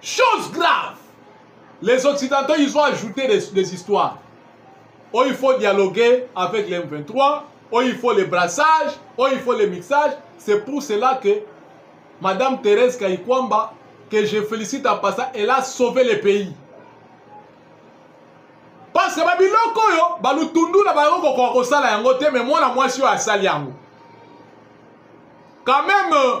Chose grave. Les Occidentaux, ils ont ajouté des, des histoires. Oh, il faut dialoguer avec les M23. Oh, il faut les brassages. Oh, il faut les mixages. C'est pour cela que Madame Thérèse Kayikwamba, que je félicite en passant, elle a sauvé le pays. Parce que babiloko oyo balutundu na bango kokoka kosala yango te mais mwana mwasi oyo asali yango quand même euh,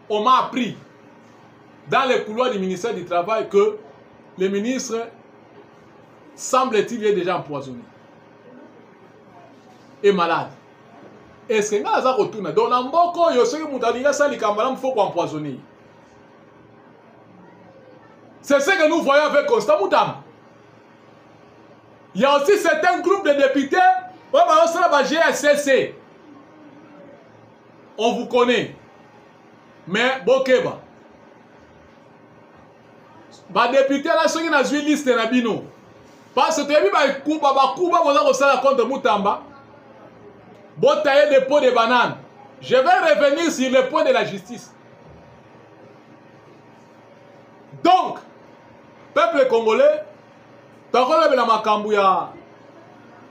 On m'a appris dans les couloirs du ministère du Travail que le ministre, semble-t-il, est déjà empoisonné et malade. Est-ce que nga aza kotuna donc na mboka oyo soki moto alingi asala likambo malamu fo koempoisonne ye c'est ce que nous voyons avec constant mutamba il y a aussi certains groupes de députés oyo bazosala ba gscc on vous connaît mais bokeba badepute na soki nazwi liste na bino parce toyebi bakuba bakuba boza kosala contre mutamba botaye de pot de banane je vais revenir sur le point de la justice donc peuple congolais tokolobela makambo ya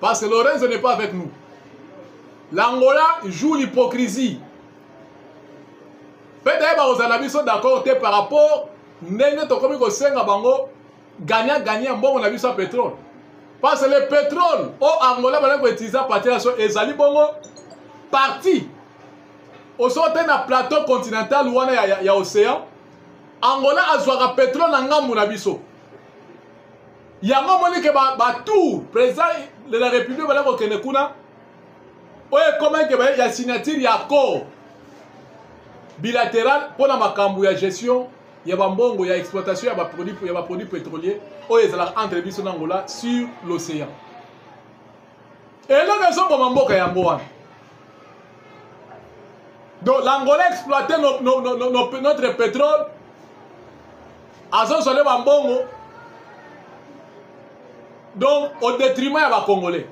Parce que Lorenzo n'est pas avec nous. L'Angola joue l'hypocrisie. Peut-être bakozala biso d'accord te par rapport ndenge tokomi kosenga bango gagnant gagnant mbongo na biso ya pétrole. Parce que le pétrole au Angola bana koutiliser partir ya so ezali bongo parti osote na plateau continental wana ya, ya, ya océan angola azwaka petrole na ngambo na biso yango omoni ke batour président de la république bala kokende kuna oyo ekomaki ya signature ya accord bilateral mpo na makambo ya gestion ya bambongo ya exploitation ya baproduit ya baproduit pétrolier oyo ezalaka entre biso na angola sur l'océan eloko ezoboma mboka yango wana donc l'angola exploite no, no, no, no, no, notre pétrole azozwale bambongo donc au détriment ya bacongolais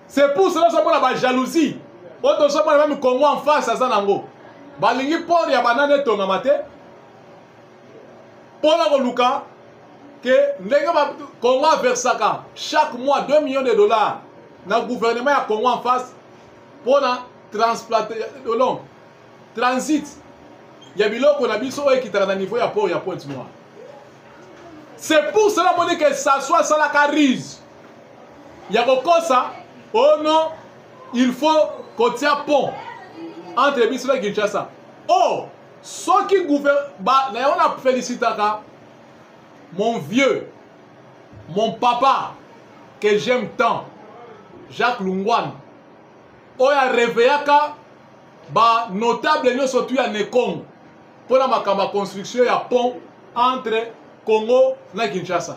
c'est pour cela ozomona bajalousie oyo tozomona meme congo en face aza nango balingi port ya banana etongama te mpo na koluka ke ndenge congo aversaka chaque mois 2 millions de dollars na gouvernement ya congo en face mpo na transplantation transit ya biloko na biso oyo ekitaka na niveau ya port ya pointe noire c'est pour cela moni ke saso asalaka rise ya kokosa oh non il faut kotia pont entre biso na kinshasa oh soki gouvernement na yango na felicitaka mon vieux mon papa que j'aime tant jacques lungwane oyo areveillaka banotable nyonso tu ya nekongo mpo na makambo ya construction ya pont entre congo na kinshasa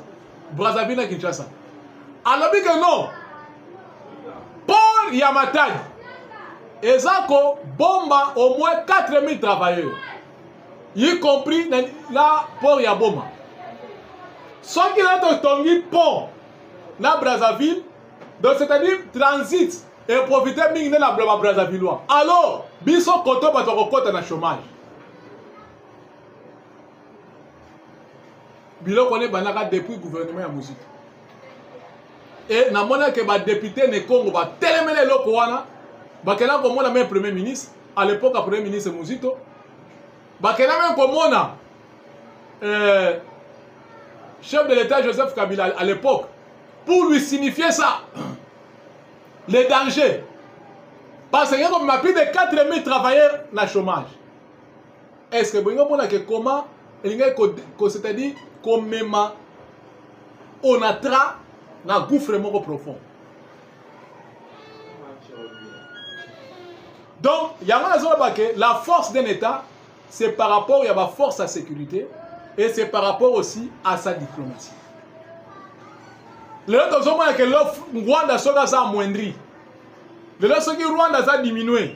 brazzaville na kinshasa alobi ke non port ya matadi eza kobomba au moins 4000 travailleurs y compris na, na port ya boma soki na totongi pont na brazzaville donc c'est-à-dire transit eprofite mingi nde na bloba brazzavillois alors biso koto bato bakokɔta na chômage biloko wana ebandaka depuis gouvernement ya mozito e namonake badepute ne congo batelemela eloko wana bakenda komona meme premier ministre à l'époque ya premier ministre mozito bakenda meme komona euh, chef de l'état joseph kabila à l'époque pour lui signifier ça le danger parce que comme ma plus de 4000 travailleurs na chômage est ce que bolingi omona ke comment elingaki ko c'est à dire komema onatra na gouffre moko profond donc yango nazoloba ke la force d'un état c'est par rapport ya baforce ya sécurité et c'est par rapport aussi à sa diplomatie lelo tozomona ke rwanda soki aza amoindri lelo soki rwanda aza diminue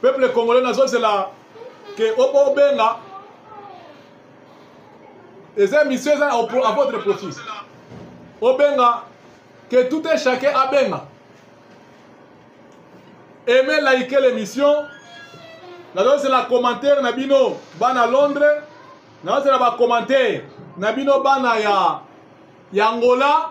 peuple congolais nazozela ke obenga eza émission eza à votre profit obenga que tout un chacun abenga aime like l'émission nazozela commentaire na bino bana londres nazozela bacommentaire na bino bana ya ya angola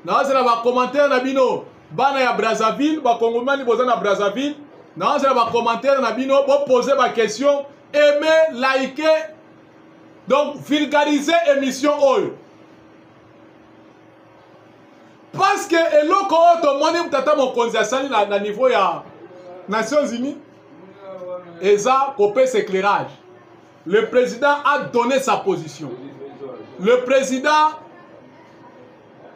nazela bacommentaire na bino bana ya brazzaville bakongomani boza na brazzaville nazela bacommentaire na bino bopose baquestion aime like donc vulgarise émission oyo parce que eloko oyo tomoni tata mokonzi asali na, na niveau ya nations unies eza kopesa éclairage Le président a donné sa position. Le président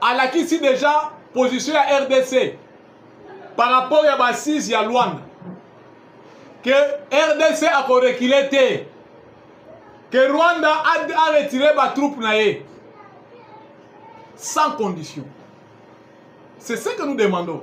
alakisi déjà position ya RDC par rapport ya bassise ya Luanda que RDC akorekile te que Rwanda aretire batroupe na ye sans condition. C'est ce que nous demandons.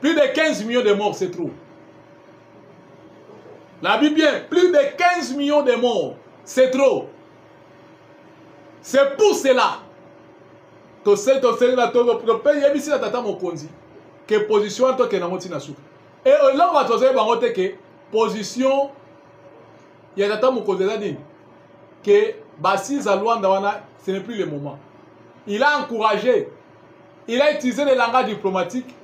Plus de 15 millions de morts, c'est trop. La Bible bien, plus de 15 millions de morts, c'est trop. C'est pour cela que c'est la tata mokonzi que position en tant que nango tina souka. Et euh, là on va toser bango te que position ya tata mokonzi eza nini que basise à Luanda wana ce n'est plus le moment. Il a encouragé il a utilisé le langage diplomatique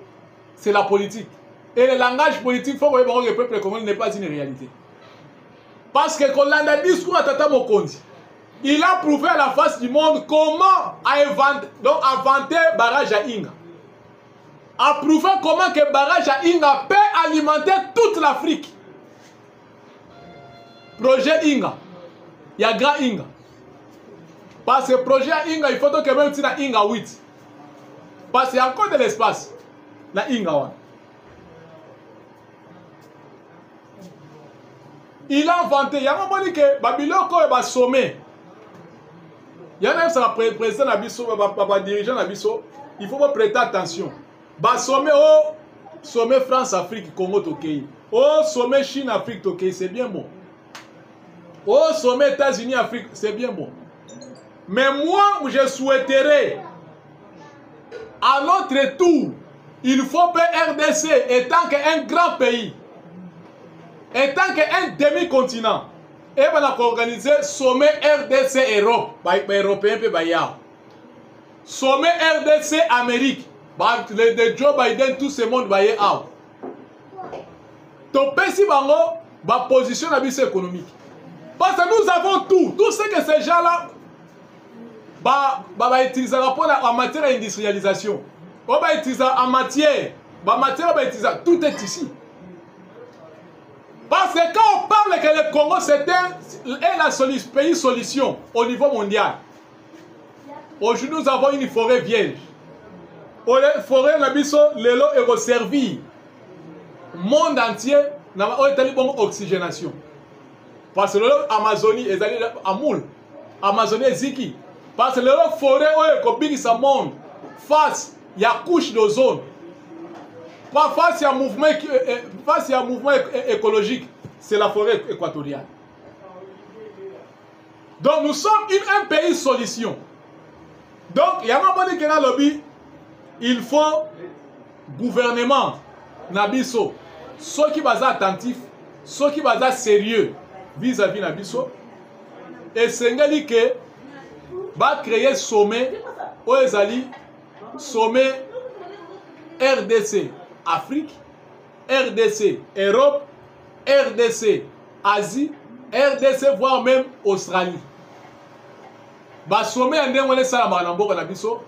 c'est la politique et le langage politique faut koyeba ngo ke peuple congolais n'est pas une réalité parce que kolanda discours ya tata mokonzi il a prouvé à la face du monde comment avanter donc avanter barrage ya inga a prouvé comment que barrage ya inga peut alimenter toute l'afrique projet inga ya grand inga parce que projet ya inga il faut tokebe uti na inga 8 parce ya encore de l'espace na inga wana il a inventé yango omoni ke babiloko oyo basome yana yebisaka président na biso badirigeant na biso il faut bopréte attention ba sommet o oh, sommet france afrique congo tokei o oh, sommet chine afrique tokei c'est bien bon o oh, sommet états-unis afrique c'est bien bon mais moi je souhaiterais à notre tour il faut que rdc étant qu'un grand pays étant qu'un demi-continent ebana koorganize sommet rdc europe baeuropéen mpe bayao sommet rdc amérique le de joe biden tout ce monde baye awa topesi bango baposition na biso économique parce que nous avons tout tout ce que ces gens là bautilisaka ba, ba mpona en matière ya industrialisation oyo bautilisaka en matière bamatière bautilisaka tout est ici Parce que quand on parle que le Congo, c'est un, est la solution, pays solution au niveau mondial, aujourd'hui nous avons une forêt vierge forêt na biso lelo ekoservir monde entier na oyo etali bongo oxygénation parce que lelo amazonie ezali amoule amazonie eziki parce que lelo forêt oyo ekobikisa monde face ya couche d'ozone pas face ya mouvement euh, euh, face ya mouvement écologique c'est la forêt équatoriale donc nous sommes une, un pays solution donc yango amoni ke nalobi il faut gouvernement na biso soki baza attentif soki baza sérieux vis-à-vis na biso esengeli ke bacreye sommet oyo ezali sommet rdc afrique rdc europe rdc asie rdc voire même australie basome ya ndenge wana esalamaka na mboka na biso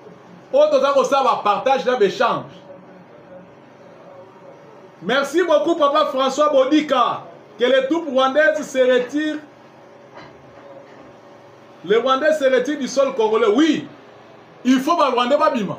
oyo toza kosala bapartage na baechange merci beaucoup papa françois bodika que les troupes rwandaises se retirent les rwandais se retirent du sol congolais oui il faut barwandais babima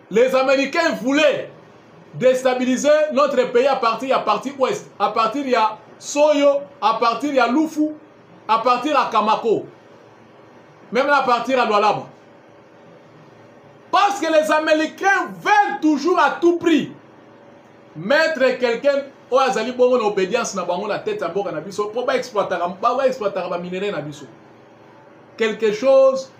les américains voulaient déstabiliser notre pays à partir ya parti ouest à partir ya soyo à partir ya lufu à partir ya kamako même à partir ya lwalaba parce que les américains veulent toujours à tout prix mettre quelqu'un oyo azali bongo na obédience na bango na tete ya mboka na biso mpo baexploitaka baminerai na biso quelque chose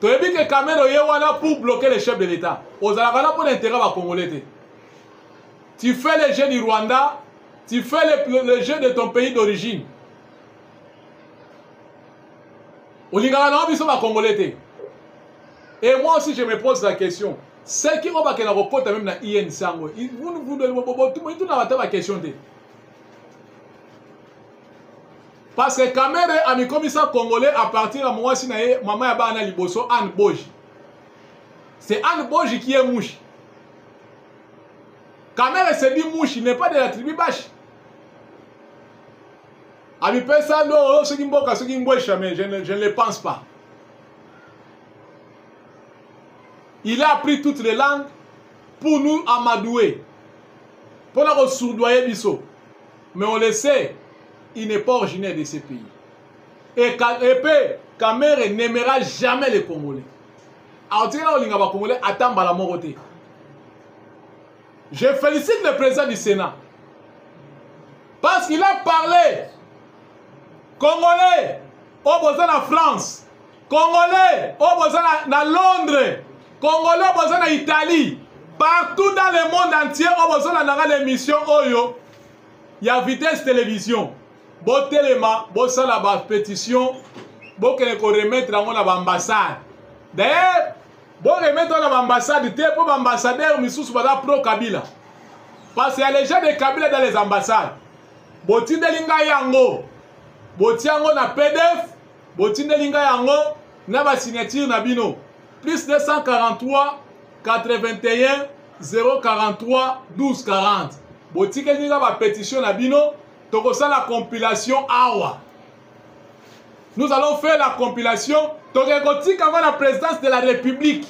toyebi ke kamere oye wana pour bloquer le chef de l'état ozalaka wana mpo na intérêt bacongolais te tu fais le jeu du rwanda tu fais le, le jeu de ton pays d'origine olingaka nango biso bacongolais te et moi aussi je me pose la question seki oyo bakenda kokota meme na inc yango botunaka ata baquestion te parce que kamere amikomisa congolais à partir ya mwasi na ye mama ya bana liboso anne boji c'est anne boji qui est mushi kamere se dit mushi n'est pas de la tribu bashi amipesa ndo oyo soki mboka soki mbwesha mais je ne, je ne le pense pas il a appris toutes les langues pour nous amadouer mpo na kosurdoye biso mais on le sait il n'est pas originaire de ce pays et, et pe kamere n'aimera jamais les congolais alors tika na olinga bacongolais ata mbala moko te je félicite le président du sénat parce qu'il a parlé congolais oyo boza na france congolais oyo boza na, na londres congolais oyo boza na italie partout dans le monde entier oyo bozolandaka na émission oyo ya vitesse television botelema bosala bapétition bokende koremettre yango na baambassade dailleurs boremettre na baambassade te mpo baambassadeur misusu baza pro kabila parce ya les gens de kabila dans les ambassades botindeli ngai yango botia yango na pdf botindeli ngai yango na basignature na bino plus 243 81 043 12 40 botikeli nga bapétition na bino tokosala compilation awa nous allons faire la compilation toke kotika yango na présidence de la république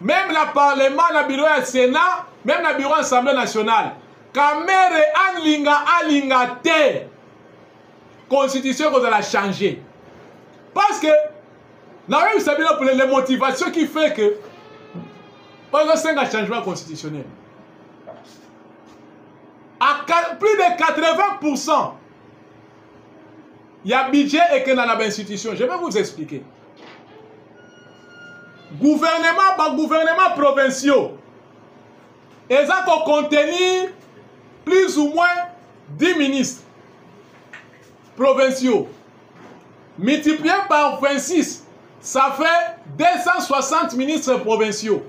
même na parlement na bureau ya sénat même na bureau assemblée nationale kamere alinga alinga te constitution ekozala change parce que nayebisa bino pele le motivation qui fait que ozosenga changement constitutionnel à plus de 80% ya budget ekenda na bainstitution je vais vous expliquer gouvernement bagouvernement provinciaux eza kocontenir plus ou moins 10 ministres provinciaux multiplié par 26, ça fait 260 ministres provinciaux.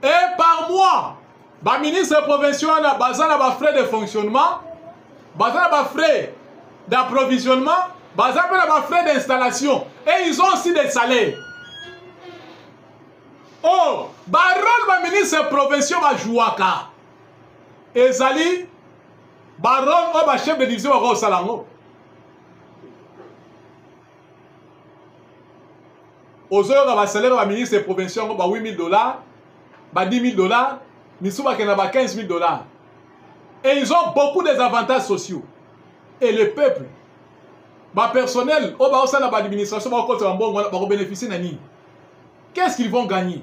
Et par mois, ba ministres provinciaux na baza na ba frais de fonctionnement, baza na ba frais d'approvisionnement, baza na ba frais d'installation et ils ont aussi des salaires. Oh, ba rôle ba ministres provinciaux ba jouaka. Ezali barome oyo bachef de division bakoki kosala yango ozoyoka basalaire ya baministre provincial yango ba 8000 dollars ba 10000 dollars misusu bakenda ba 15000 dollars et ils ont beaucoup des avantages sociaux et le peuple bapersonnel oyo bakosala na baadministration bakokota bambongo wana bakobénéficie na nini qu'est ce qu'ils vont gagner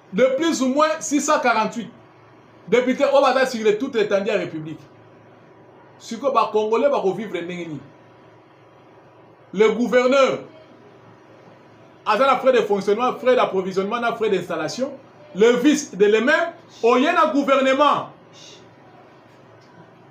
de plus ou moins 648 depute oyo baza sur le toute étendue ya république sikoyo bacongolais bakovivre ndenge nini le gouverneur aza na frais de fonctionnement frais d'approvisionnement na frais d'installation le vice de le même oye na gouvernement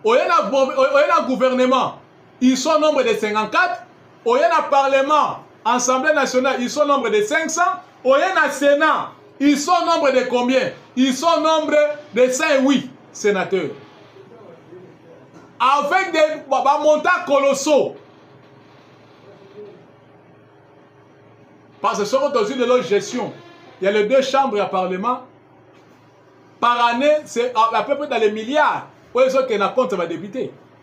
oye na, oye na gouvernement ils sont nombre de 54 oye na parlement assemblée nationale ils sont nombre de 500 oye na sénat ils sont nombre de combien ils sont nombre de 108 sénateurs avec des bamontants colossaux parce que soko tozwi lelo gestion ya les deux chambres ya parlement par année c'est à peu près dans les milliards oyo ezokende na compte ya badepute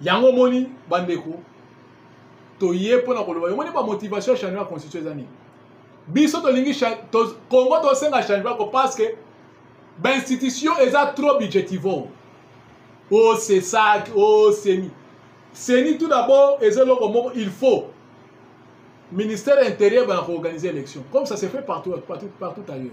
yango omoni bandeko toye mpo na koloba omoni bamotivation ya changement ya constitution eza nini biso tolingi congo tosenga changement ko parce que bainstitution eza trop budgetivore o oh, sesak o oh, seni seni tout d'abord eza eloko moko il faut ministère ya intérieur bana koorganiser élection comme ça se fait partout, partout, partout ailleurs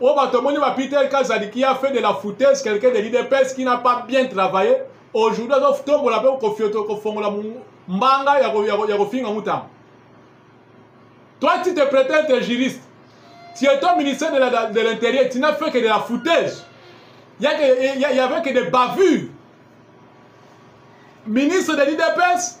oyo bato omoni ba peter kazadi qui a fait de la foutaise quelqu'un de l'idps qui n'a pas bien travaillé aujourd'hui azotombola mpe kofioto kofongola mbanga ya kofinga mutamba toi tu te prétends te juriste tu es au ministère de l'intérieur de, l'intérieur, tu n'as fait que de la foutaise il y, a, y, y avait que des bavures ministre de l'idps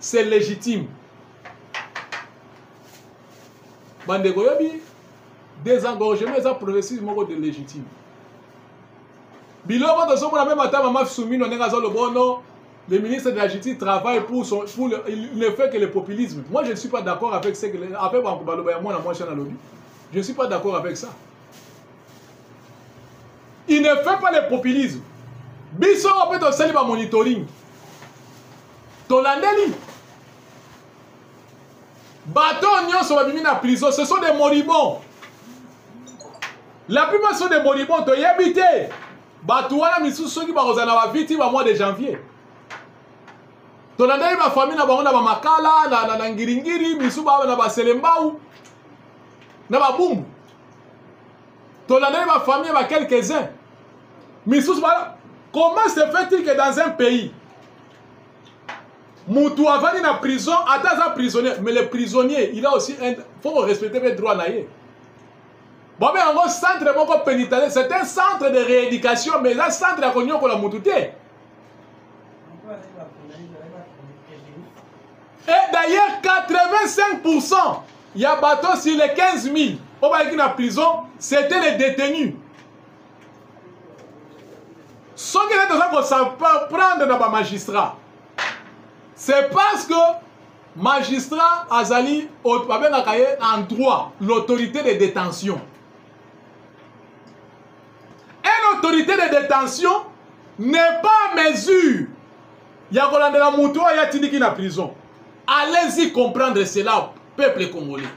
c'est légitime bandeko oyebi désengorgement eza processus moko de légitime biloko tozomona mpe matama mafisumino ndenge aza lobono le ministre de la justice travaille pour, son, pour le, il ne fait que le populisme moi je ne suis pas d'accord avec ce que avec banko baloba ya mwana mwasi na lobi je ne suis pas d'accord avec ça il ne fait pas le populisme biso mpe tosali bamonitoring tolandeli bato oyo nyonso babimi na prison ce sont des moribons la plupart sont des moribons toyebi te bato wana misusu soki bakozala na baviti ba mois de janvier tolandeli bafamille na bango na bamakala na, na, na ngiringiri misu ba, na baselembau na babumbu tolandeli bafamille ba quelques-uns misusu ba comment se fait-il que dans un pays mutu avandi na prison ata aza prisonnier mais le prisonnier il a aussi un faut ko respecter mpe droit na ye bobe yango centre moko pénitentiaire c'est un centre de rééducation mais eza centre ya konyokola mutu te et eh, d'ailleurs 85 pourcent ya bato sur les 15 000 oyo bayaki na prison c'était les détenus soki nde toza kosaprendre na bamagistrat c'est parce que magistrat azali babengaka ye en droit l'autorité de détention et l'autorité de détention n'est pas en mesure ya kolandela moto oyo atindiki na prison allez-y comprendre cela peuple congolais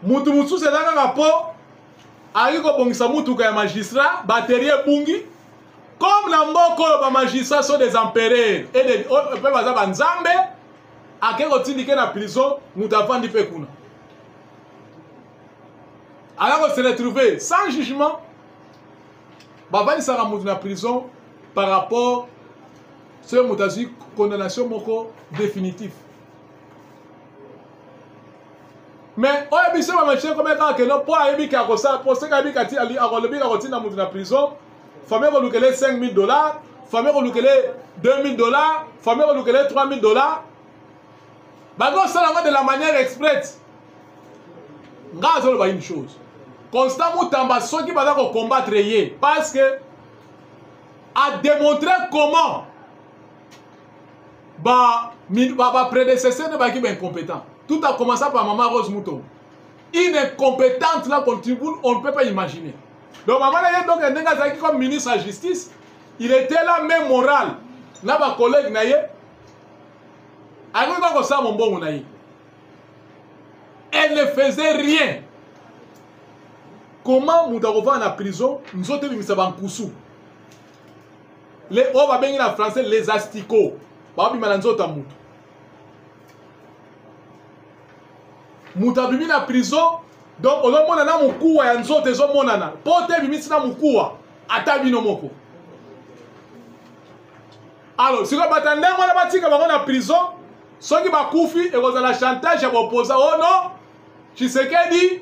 motu mosusu eza kaka mpo ayaki kobongisa motuka ya magistrat baterie ebungi comme na mboka oyo bamagistrat so des empereur mpe oh, oh, baza banzambe ake kotindike na prison moto avandi mpe kuna aya kose retrouve sans jugement bavandisaka moto na prison par rapport soki moto azwi condamnation moko définitive mais oyo biso bamachine komeka kaka keno mpo ayebi ke akosala mpo soki ayebi kati akolobi kakotinda moto na prison fami ekolukele 5000 dollars fami ekolukele 2000 dollars fami ekolukele 3000 dollars bakosala yango de la manière exprète nga azoloba une chose constant mutamba soki baza kocombattre ye parce que ademontre comment ba ba, ba prédécesseurs ne baki ba incompétent tout a commencé par maman Rose Mouton une incompétente là qu'on on ne peut pas imaginer donc maman là donc ndenge azalaki comme ministre ya justice il était là même moral na ba collègue na ye akoki kaka kosala mombongo na ye elle ne faisait rien comment moto akofanda na prison nzoto ebimisa bankusu le oyo babengi na français les asticots babima na nzoto ya moto moto abimi na prison donc ozomona na mokuwa ya nzoto ezomonana mpo te ebimisi na mokuwa ata bino moko alors sikoyo bata ndenge wana batika bango na prison soki bakufi ekozala chantage ya bopoza ono oh tshisekedi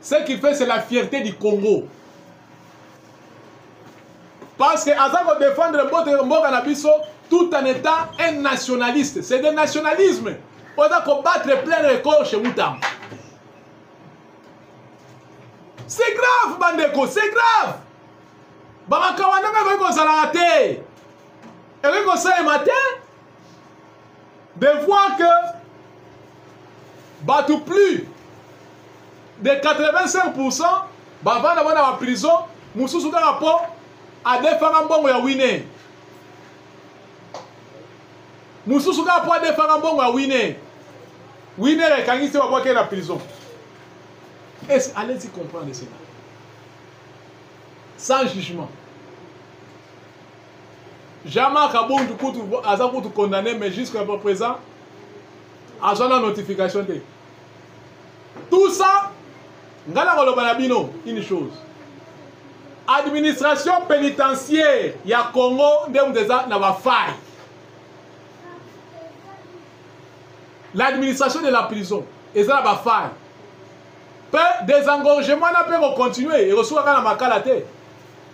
ce qui fait c'est la fierté du congo parce que aza kodefendre mboka na biso tout en étant un nationaliste c'est de nationalisme oza kobattre plein record chez mutamba c'est grave bandeko c'est grave bamakawa ndenge ekoki kozalaka te ekoki kosalema te de voir que bato plus de 85 pourcent bavanda bana ba prison mosusu kaka mpo adefaka mbongo ya wine mosusu kaka mpo adefaka mbongo ya wine wine ekangisi te babwaki na prison es allez-y comprendre cela sans jugement Jean-Marc Abondu kutu aza kutu condamné mais jusqu'à présent azwa na notification te tout ça ngai nakoloba na bino une chose administration pénitentiaire ya congo nde moto eza na bafaille l'administration de la prison eza na bafaille mpe desengorgement wana mpe kocontinue ekosukaka na makala te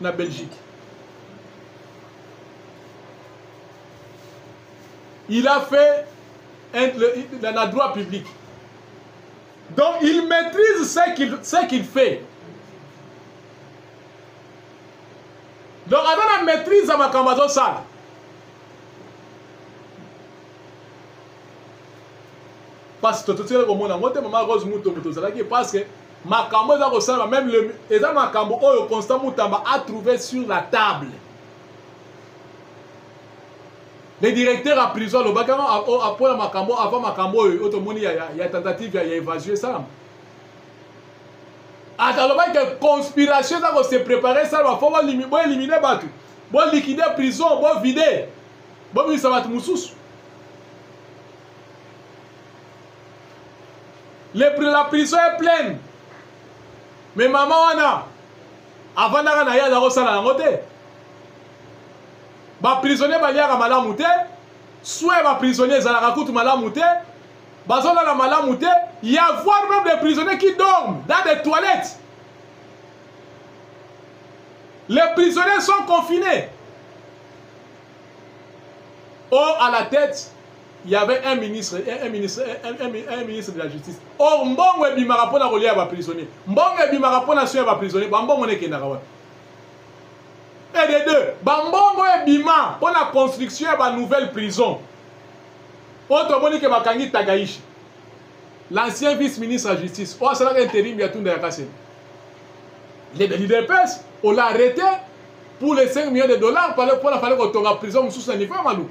na belgique il a fait un, le, dans la droit public donc il maîtrise ce qu'il ce qu'il fait donc aza na maîtrise ya makambo azosala mpasi totikali komona yango te mama rose mutombo tozalaki parce que makambo eza kosalama meme le, eza makambo oyo constant mutamba a trouvé sur la table le directeur ya prison alobaki yango apola makambo avant makambo oyo oyo tomoni ya, ya, ya tentative ya, ya évasio esalama ata alobaki ke conspiration eza kose prépare esalama fo boelimine bato bolikide prison bovide bobimisa bato mosusu Le, la prison est pleine me mama wana avandaka na ye aza kosala yango te baprisonnier baliaka malamu te soin ya baprisonnier ezalaka kutu malamu te bazolala malamu te y avoir même des prisonniers qui dorment dans des toilettes les prisonniers sont confinés or à la tête il y avait un ministre un, un ministre un, un, un ministre de la justice or mbongo ebimaka mpona kolia ya baprisonnier mbongo ebimaka mpona soin ya baprisonnier bambongo nekendaka wapi et de deux bambongo ebima mpona construction ya banouvelle prison oyo tomoni ke bakangi tagaishi l'ancien vice ministre ya justice oyo asalaka interim ya tunda ya kaseni le lidepes ola arrete pour les 5 millions de dollars mpona fale kotonga prison mosusu na niveau ya maluku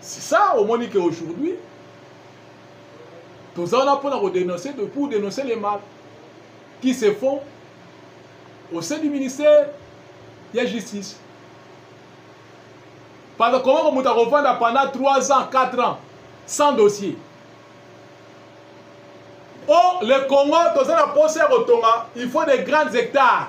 c'est ça omoni que aujourd'hui toza wana mpona kodenoncer pour dénoncer les mal qui se font au sein du ministère ya justice parce que komoko moto akofanda pendant 3 ans 4 ans sans dossier o oh, le congo toza na mposa ya kotonga il faut de grandes hectares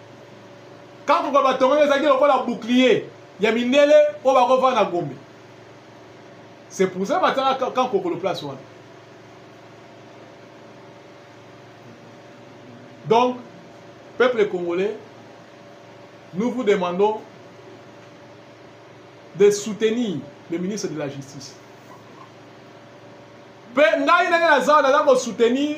kakuka batongaki ezalaki lokola bouclier ya mindele oyo bakova na gombe c'est pour ça batanga kan kokolo place wana donc peuple congolais nous vous demandons de soutenir le ministre de la justice mpe ngai ndenge naza naza kosoutenir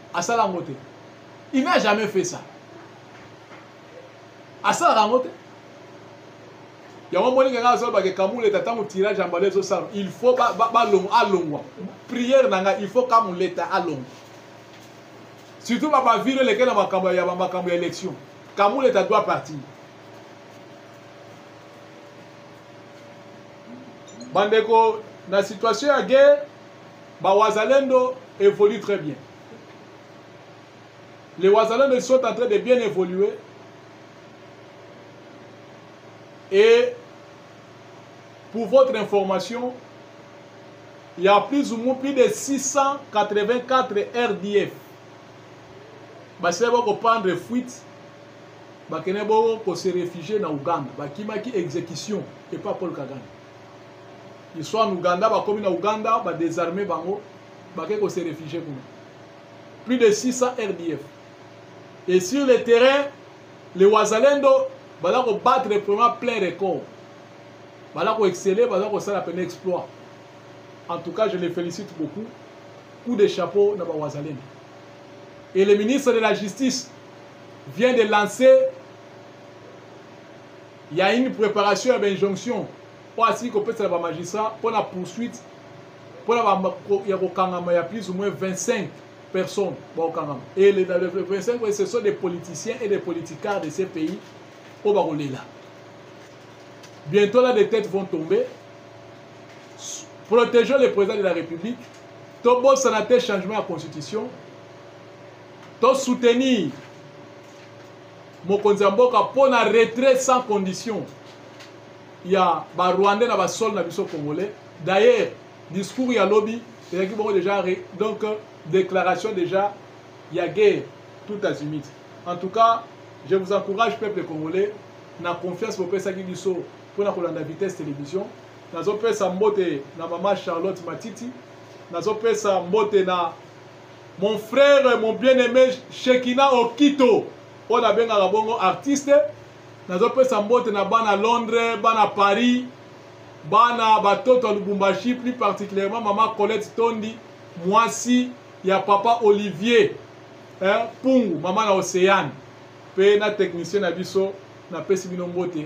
asala yango te il n'a jamais fait ça asalaka yango te yango moni kaka azolobaka ekamuleta ntango tirage ya mbala ezosala il faut alongwa priere na ngai il faut kamuleta alongwa surtout babavire eleke na makambo ya makambo ya élection kamuleta doit partir bandeko na situation ya guerre Ba Wazalendo évolue très bien. Les Wazalendo ils sont en train de bien évoluer. Et pour votre information, il y a plus ou moins plus de 684 RDF. basili bakopandre fuite bakende boko se réfugie na uganda bakimaki exécution epa paul kagame ils sont en Ouganda bakomi na Ouganda ba désarmer bango bake ko se réfugier kuna plus de 600 RDF et sur le terrain les Wazalendo baza ko battre vraiment plein record baza ko exceller baza ko sala plein exploit en tout cas je les félicite beaucoup coup de chapeau na ba Wazalendo et le ministre de la justice vient de lancer Il y a une préparation ya bainjonction oyo asili kopesa na bamagistrat mpo na poursuite mpo na ya kokangama ya plus ou moins 25 personnes bakokangama et les 25 oyo ce sont des politiciens et des politicards de ces pays oyo bakolela bientôt là des têtes vont tomber protégeons le président de la république tobosana te changement ya constitution tosoutenir mokonzi ya mboka mpo na retrait sans condition ya barwandais na basole na biso congolais d'ailleurs discours ya lobi ezalaki bongo déjà donc déclaration déjà ya guerre tout azimite en tout cas je vous encourage peuple congolais na confiance bopesaki biso mpo na kolanda vitesse télévision nazopesa mbote na mama charlotte matiti nazopesa mbote na mon frère mon bien aimé shekina okito oyo nabengaka bongo artiste nazopesa mbote na bana londres bana paris bana batoto ya lubumbashi plus particulièrement mama colette tondi mwasi ya papa olivier eh, pungu mama na océane mpe na technicien na biso napesi bino mbote